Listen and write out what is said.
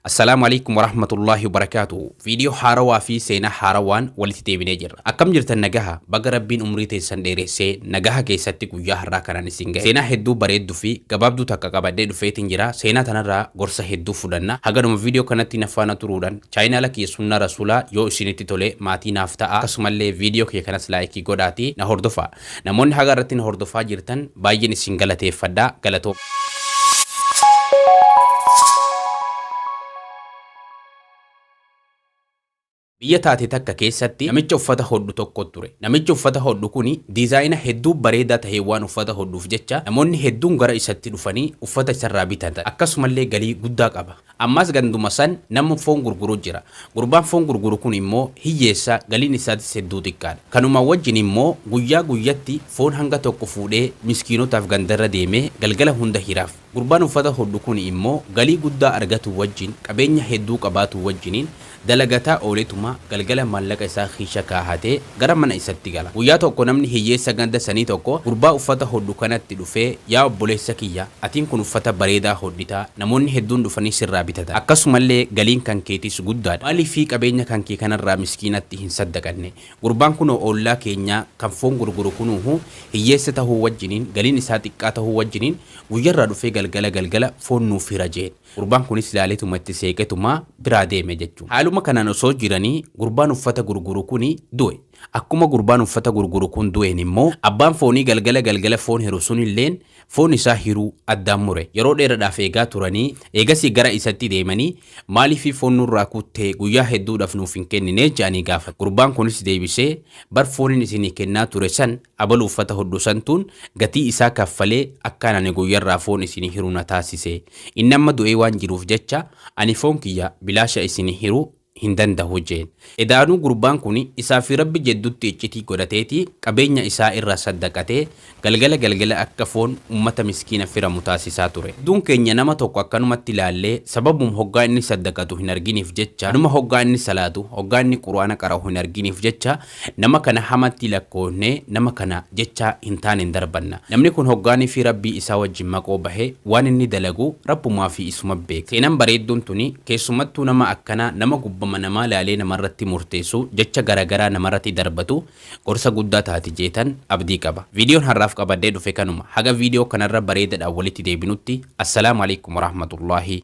Assalaamu Aleykum Warahmatullaahi Wabarakaatuhu Viidiyoo haarawaa fi seenaa haarawaan walitti deebinee jirra. Akkam jirtan nagaha? Baga Rabbiin umrii teessan dheeressee nagaha keessatti guyyaa har'aa kanaan isin gahe. Seenaa hedduu bareedduu fi gabaabduu takka qabadhee dhufeetiin jira. Seenaa tanarraa gorsa hedduu fudhanna. Hagadhuma viidiyoo kanatti na faana turuudhaan chaayinaala kiyya sunnaa rasuulaa yoo isinitti tole maatii naaf ta'a. Akkasumallee viidiyoo kiyya kanas laayikii godhaatii na hordofaa. Namoonni haga irratti na hordofaa jirtan baay'een isin galateeffadha. Galatoomaa. Biyya taate takka keessatti namicha uffata hodhu tokko ture. Namichi uffata hodhu kuni diizaayina hedduu bareedaa taheen waan uffata hodhuuf jecha namoonni hedduun gara isatti dhufanii uffata isarraa bitatan. Akkasumallee galii guddaa qaba. Ammas ganduma san namni foon gurguru jira. Gurbaan foon gurguru kun immoo hiyyeessa, galiin isaatis hedduu xiqqaadha. Kanuma wajjin immoo guyyaa guyyatti foon hanga tokko fuudhee miskiinotaaf gandarra deemee galgala hunda hiraaf. Gurbaan uffata hodhu kun immoo galii guddaa argatuu wajjin qabeenya hedduu qabaatuu wajjiniin Dalagataa ooletuma galgala maallaqa isaa kiisha kaahatee gara mana isatti gala. Guyyaa tokko namni hiyyeessa ganda sanii tokko gurbaa uffata hodhu kanatti dhufee yaa obboleessa kiyya atiin kun uffata bareedaa hodhitaa namoonni hedduun dhufanii sirraa bitatan akkasumallee galiin kan keetiis guddaadha maaliifii qabeenya kan kee kanarraa miskiinatti hin saddaqanne gurbaan kunoo oollaa keenyaa kan foon gurguru kunuuhu hiyyeessa tahuu wajjiniin galiin isaa xiqqaa tahuu wajjiniin guyyarraa dhufee galgala galgala foon nuuf hira jeen. Gurbaan kunis laaleetuma itti seeqetuma biraa deeme jechuun. Haaluma kanaan osoo jiranii gurbaan uffata gurguru kuni du'e. Akkuma gurbaan uffata gurguru kun du'een immoo abbaan foonii galgala galgala foon hiru sunilleen foon isaa hiruu addaan mure. Yeroo dheeradhaaf eegaa turanii eegasii gara isatti deemanii maaliifii foon nurraa kuttee guyyaa hedduudhaaf nuuf hin kenninee jedhanii gaafatan. Gurbaan kunis deebisee bar fooniin isinii kennaa ture san Abalu uffata hodhu santuun gatii isaa kaffalee akkaan ani guyyarraa foon isinii hiru na taasise. Inni amma du'ee waan jiruuf jecha ani foon kiyya bilaasha isinii hiru hin dandahu jeen. Edaanuu gurbaan kun isaa fi Rabbi jeddutti iccitii godhateeti qabeenya isaa irraa saddaqatee galgala galgala akka foon ummata miskiina firamu taasisaa ture. Hedduun keenya nama tokko akkanumatti laallee sababum hoggaa inni saddaqatu hin arginiif jecha, anuma hoggaa inni salaatu, hoggaa inni qur'aana qara'u hin arginiif jecha Nama kana hamatti lakkoofnee nama kana jecha hin taanen darbanna. Namni kun hoggaanifi Rabbii isaa wajjin maqoo bahe waan inni dalagu Rabbumaafi isuma beeka. Seenan bareedduun tuni keessumattuu nama akkanaa nama gubbama namaa laalee namarratti murteessu jecha garagaraa namarratti darbatu gorsa guddaa taati jeetan abdii qaba. Viidiyoon har'aaf qabadhee dhufe kanuma. Haga viidiyoo kanarra bareedadhaan walitti deebinutti Assalaamu Aleykum Warahmatullaahi.